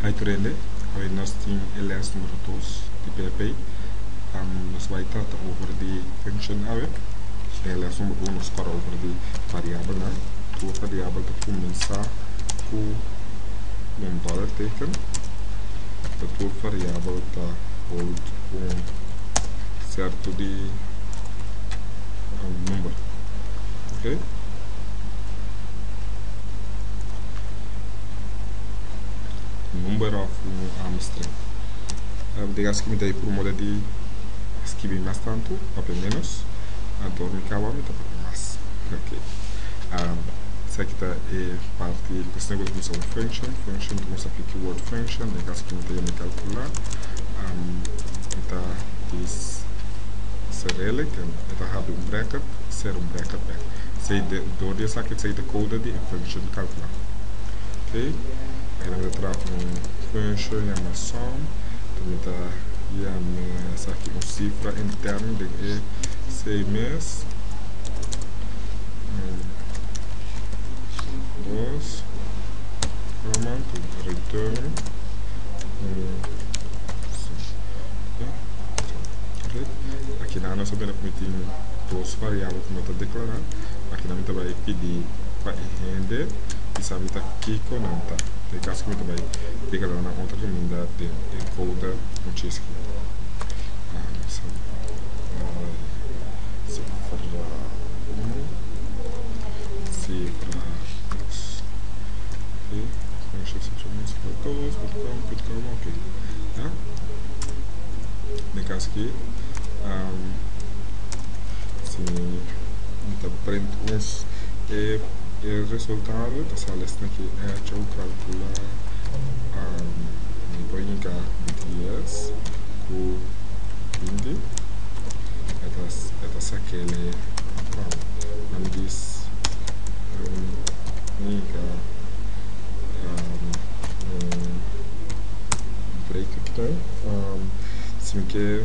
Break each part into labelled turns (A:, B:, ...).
A: Hi Trende, Hoy nos tin e les numero dos di PP. Nos bai trata over di function awe. Den e les numero uno nos kore over di variabelnan. Tur variabel ta kuminsá ku un dòler teken. Tur variabel ta hold un sierto di number. number of new arm string uh, de gas que me por moda de escrever más tanto papel menos entonces me acaba me por más ok um, esa que está eh, parte pues tengo que usar function function como se aplica word function de gas que me tem calcular um, está is Cyrillic en está have un bracket serum Bracapel. Esei de dor di esaki esei ta kouda di infection kalkulá. Ok, e nan ta traha un kuensho yama som, ta mi ta yame esaki un sifra interno den e sei mes, un, dos, kòma, den e return, un, dos, ok, aki nan nos a mira ku mi tin. dos variabel ku mi ta deklará akina mi ta bai pidi pa e hende i sa mi ta kiko nan ta ta e kaso ku mi ta bai deklará nan otro kaminda den encoder muchísimo gracias Si mi ta prent mes e resultado ta sali asina ki echo kalkula mi por yega dies ku binti e ta sakele wao nan bis mi yega break si mi ke.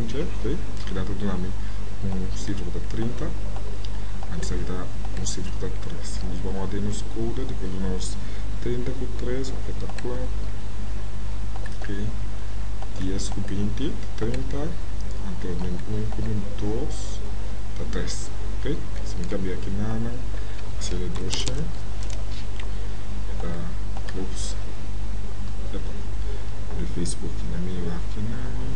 A: Oke, oke, keda ta duna mi un sifra ku ta trinta, antes aki ta un sifra ku ta tres. Si nos ba'wante den nos kouda, depende di duna nos trinta ku tres, oke ta kuat, oke, dies ku binti ta trinta, anto den un ku den dos ta tres, oke. Si mi kambia aki nanan, mi hasiel e dos shen, e ta plus, epa, mi abri facebook aki na mi, wak aki nan.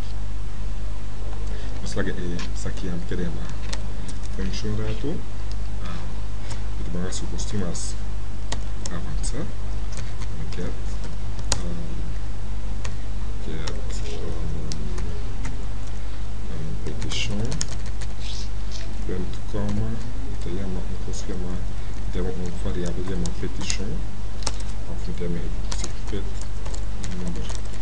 A: Nos laga e sakia anto keda yama French un ratu pa ta baga su bosti mas avansa mi ket ket repetishon punto koma mi ta yama un kos ku yama mi ta yama un variabel ku yama petishon afront di amerio si pet number.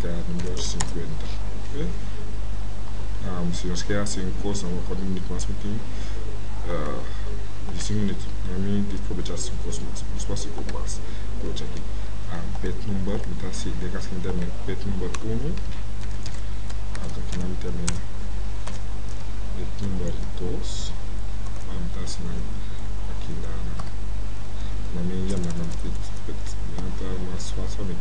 A: Ca number cincuenta ok si nos ke hasi un cos nan waw di minintu mas mi tin diecin minuto nan mi di probecha hasi un cos mas nos hasi cu mas probecha aki pet number mi ta hasi den cas mi tene pet number uno ok aki nan mi tene pet number dos nan mi ta hasi nan aki nan nan mi yama nan pet pet nan ta mas facil pa mi.